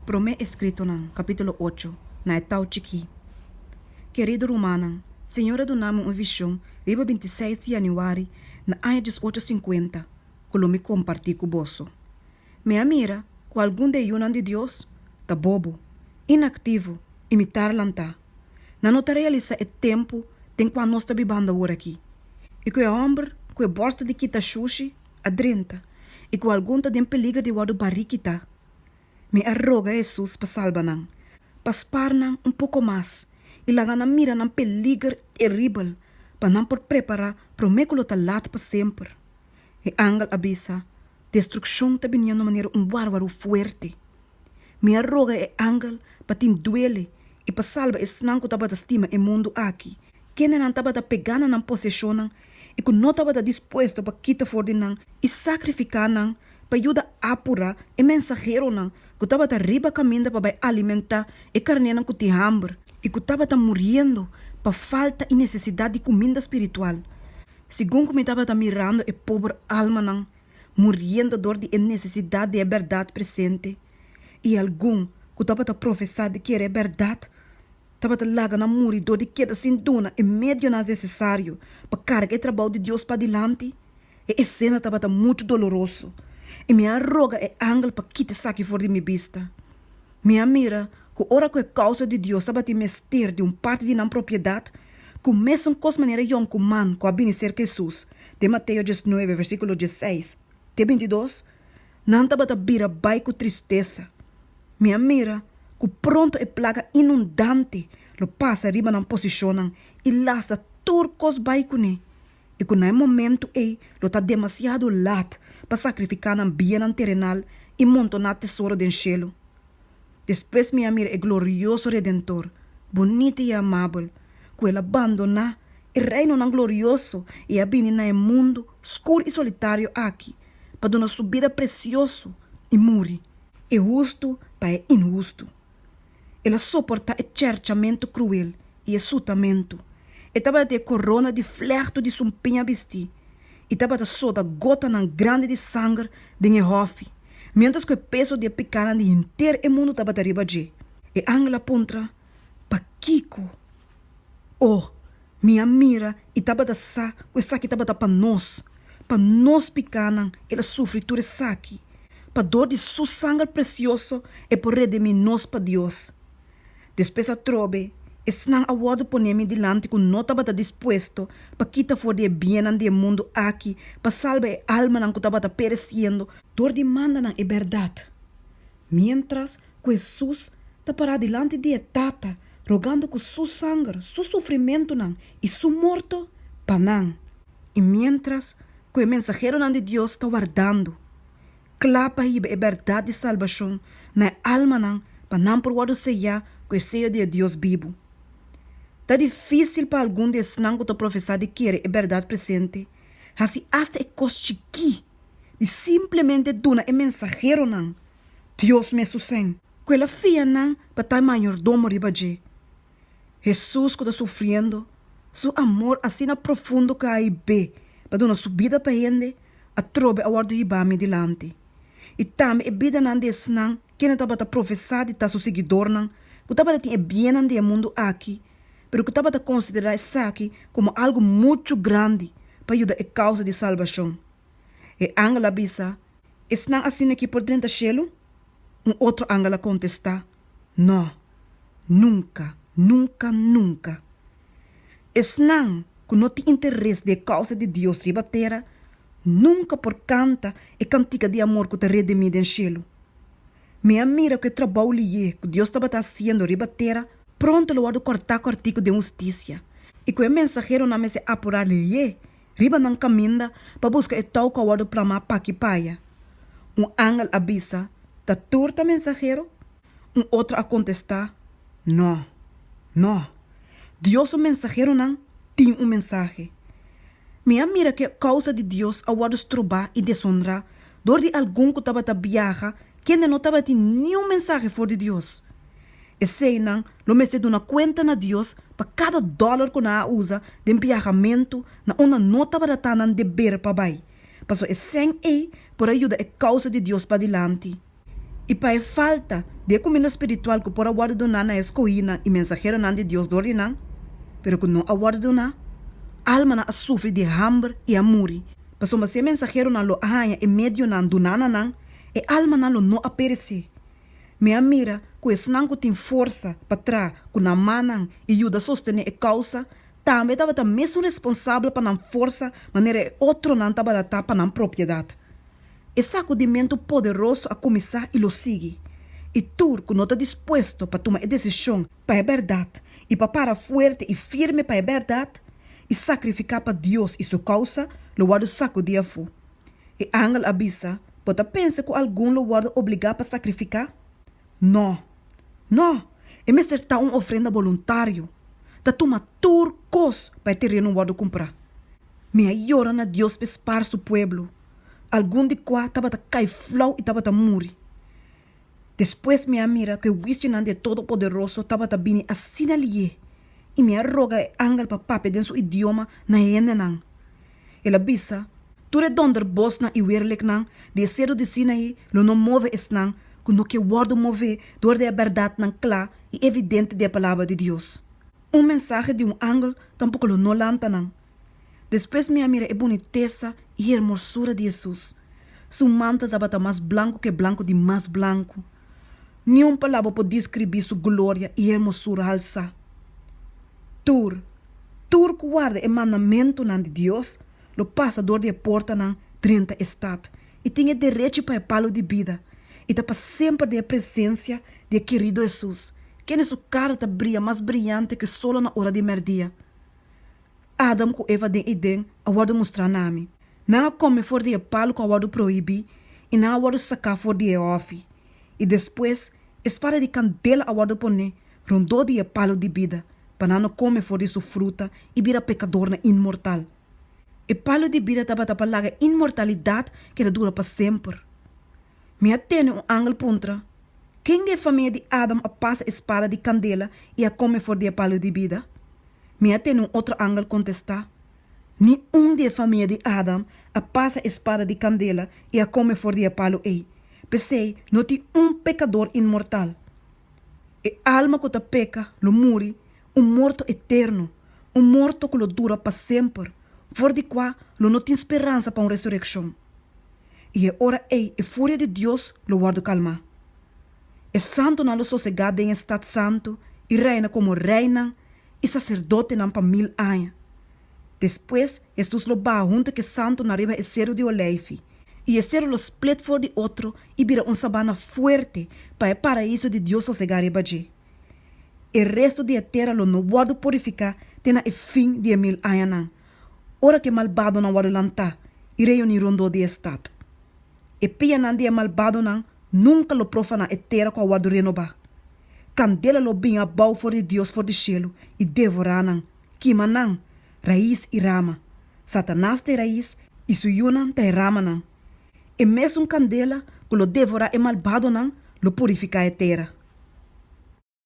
Promé Eskritonan, kapítulo ocho, na e tau chikí. Kerido rumannan, Señor a duna mi un vishon riba binti seis di yanüari na aña dies ocho sinkuenta ku lo mi kompartí ku boso. Mi a mira ku algun di e yunan di Dios ta bobo, inaktivo i mi tarlantá. Nan no ta realisá e tempu den kua nos ta bibanda ora akí, i ku e hòmber ku e bòrsel di kita shushi a drenta i ku algun ta den peliger di wòrdu barí kitá. Mi a roga Hesus pa salba nan, pa spar nan un poko mas i laga nan mira nan peliger teribel pa nan por prepará promé ku lo ta lat pa semper. E angel a bisa, Destrukshon ta bini na un manera un bárbaru fuerte. Mi a roga e angel pa tin duele i pa salba esnan ku tabata stima e mundu aki. Kendenan tabata pegá na nan poseshonnan i ku no tabata dispuesto pa kita for di nan i sakrifiká nan pa yuda apurá e mensaheronan ku tabata riba kaminda pa bai alimentá e karnénan ku tin hamber i ku tabata muriendo pa falta i nesesidat di kuminda spiritual, segun ku mi tabata mirando e pober almanan muriendo dor di e nesesidat di e bèrdat presente i algun ku tabata profesá di kere e bèrdat tabata laga nan muri dor di keda sin duna e medionan nesesario pa karga e trabou di Dios padilanti. E esena tabata muchu doloroso, i mi a roga e angel pa kita esaki for di mi bista. Mi a mira ku ora ku e kousa di Dios tabatin mester di un parti di nan propiedat, ku mesun kos manera yon ku man ku a bini serka Hesus, den Mateo diesnuebe, versíkulo diesseis te bintidos, nan tabata bira bai ku tristesa. Mi a mira ku pronto e plaga inundante lo pasa riba nan posishonnan i lasta tur kos bai kuné, i ku na e momentu ei lo ta demasiado lat pa sakrifiká nan biennan terenal i montoná tesoro den shelu. Despues mi a mira e glorioso Redentor, bunita i amabel, ku el a bandoná e reinonan glorioso i a bini na e mundu skur i solitario aki pa duna su bida presioso i muri e hustu pa e inhustu. El a soportá e cherchamentu kruel i e sutamentu, e tabata tin e korona di flèhtu di su mpiña bistí i tabata sota gotanan grandi di sanger den e hòfi, miéntras ku e peso di e pikánan di henter e mundu tabata riba dje. E angel a puntra, Pakiko? O, mi a mira i tabata sa ku esaki tabata pa nos, pa nos pikánan el a sufri tur esaki. Pa dor di su sanger presioso e por redimí nos pa Dios. Despues atrobe, esnan a wòrdu poné mi dilanti ku no tabata dispuesto pa kita for di e biennan di e mundu aki pa salba e almanan ku tabata peresiendo dor di mandanan e bèrdat. Miéntras ku Hesus ta pará dilanti di e Tata rogando ku Su sanger, Su sufrimentunan i Su morto pa nan, i miéntras ku e mensaheronan di Dios ta wardando kla pa hiba e bèrdat di salbashon na e almanan pa nan por wòrdu seyá ku e seyo di e Dios bibu, ta difísil pa algun di esnan ku ta profesá di kere e bèrdat presente hasi asta e kos chikí. di simplemente duna e mensaheronan Dios mes su sèn, ku el a fia nan pa ta e mayordomo riba dje. Hesus ku ta sufriendo, su amor asina profundo ku a hib'é pa duna su bida pa hende, atrobe a wòrdu hibá mi dilanti. I tambe e bidanan di esnan kende tabata profesá di ta su siguidornan, ku tabata tin e biennan di e mundu aki, pero ku tabata konsiderá esaki komo algu muchu grandi pa yuda e kousa di salbashon. E angel a bisa, Esnan asina ki por drenta shelu? Un otro angel a kontestá, Nò, nunka, nunka, nunka! Esnan ku no tin interes di e kousa di Dios riba tera, nunka por kanta e kantika di amor ku ta redimí den shelu. Mi a mira ku e trabou liyé ku Dios tabata hasiendo riba tera pronto lo wòrdu kòrtá kòrtí ku den hustisia, i ku e mensaheronan mester apurá liyé riba nan kaminda pa buska e tou ku a wòrdu plamá p'aki p'aya. Un angel a bisa, Ta tur ta mensahero? Un otro a kontestá, Nò. Nò. Dios su mensaheronan tin un mensahe. Mi a mira ku e kousa di Dios a wòrdu strobá i deshonrá Dor di algun ku tabata biaha, kende no tabatin niun mensahe for di Dios. Eseinan lo mester duna kuenta na Dios pa kada dòler ku nan a usa den biahamentu na unda no tabata ta nan deber pa bai, pasobra e sèn ei por a yuda e kousa di Dios padilanti. I pa e falta di e kuminda spiritual ku por a wòrdu duná na e skohínan i mensaheronan di Dios dor di nan, pero ku no a wòrdu duná, almanan a sufri di hamber i a muri. Pasobra si e mensaheronan lo a haña e medionan duna na nan, e almanan lo no a peresí. Mi a mira ku esnan ku tin forsa pa traha ku nan mannan i yuda sostené e kousa tambe tabata mesun responsabel pa nan forsa manera e otronan tabata ta pa nan propiedat. E sakudimentu poderoso a kuminsá i lo sigui, i tur ku no ta dispuesto pa tuma e desishon pa e bèrdat i pa para fuerte i firme pa e bèrdat i sakrifiká pa Dios i Su kousa, lo wòrdu sakudí afu. E angel a bisa, Bo ta pensa ku algun lo wòrdu obligá pa sakrifiká? Nò! Nò! E mester ta un ofrenda boluntario. Ta tuma tur kos pa e tereno wòrdu kumprá. Mi a yora na Dios pe spar Su pueblo, algun di kua tabata kai flou i tabata muri. Despues mi a mira ku e wiskionan di e Todopoderoso tabata bini asina li'é, i mi a roga e angel pa papia den su idioma na e hendenan. El a bisa, Tur e donder bosnan i wereliknan di e sedu di Sinaí lo no move esnan ku no ke wòrdu mové dor di e bèrdatnan kla i evidente di e palabra di Dios. Un mensahe di un angel tampoko lo no lanta nan. Despues mi a mira e bunitesa i hermosura di Hesus. Su mantel tabata mas blanku ku e blanku di mas blanku. Niun palabra por diskribí su gloria i hermosura halsá. Tur, tur ku warda e mandamentunan di Dios lo pasa dor di e portanan drenta e stat i tin e derechi pa e palu di bida i ta pa semper den e presensia di e kerido Hesus, kende su kara ta bria mas briante ku solo na ora di merdia. Adam ku Eva den Eden a wòrdu mustrá na mi. Nan a kome for di e palu ku a wòrdu prohibí i nan a wòrdu saká for di e hòfi. I despues, e spada di kandela a wòrdu poné rondó di e palu di bida, pa nan no kome for di su fruta i bira pekadornan inmortal. E palu di bida tabata pa laga e inmortalidat ku e ta dura pa semper. Mi a tene un angel puntra, Ken di e famia di Adam a pasa e spada di kandela i a kome for di e palu di bida? Mi a tene un otro angel contesta, Ni un di e famia di Adam a pasa e spada di candela y a come for di e palo ey. P'esey no tin un pecador inmortal. E alma cu ta peca lo muri un morto eterno, un morto cu lo dura pa semper, for di cua lo no tin speransa pa un resureccion. Y e ora ey e furia di Dios lo wordo calma. E santunan lo sosegá den e stat santu i reina komo reinan i saserdotenan pa mil aña. Despues, Hesus lo baha huntu ku e santunan riba e seru di Oleifi, i e seru lo split for di otro i bira un sabana fuerte pa e Paraíso di Dios sosegá riba dje. E restu di e tera lo no wòrdu purifiká te na e fin di e mil añanan, ora ku e malbadonan wòrdu lantá i reuní rondó di e stat. E pianan di e malbadonan nunka lo profa na e tera ku a wòrdu renobá. Kandela lo bin abou for di Dios for di shelu i devorá nan, kima nan, rais i rama. Satanas ta e rais i su yunan ta e ramanan. E mesun kandela ku lo devorá e malbadonan lo purifiká e tera.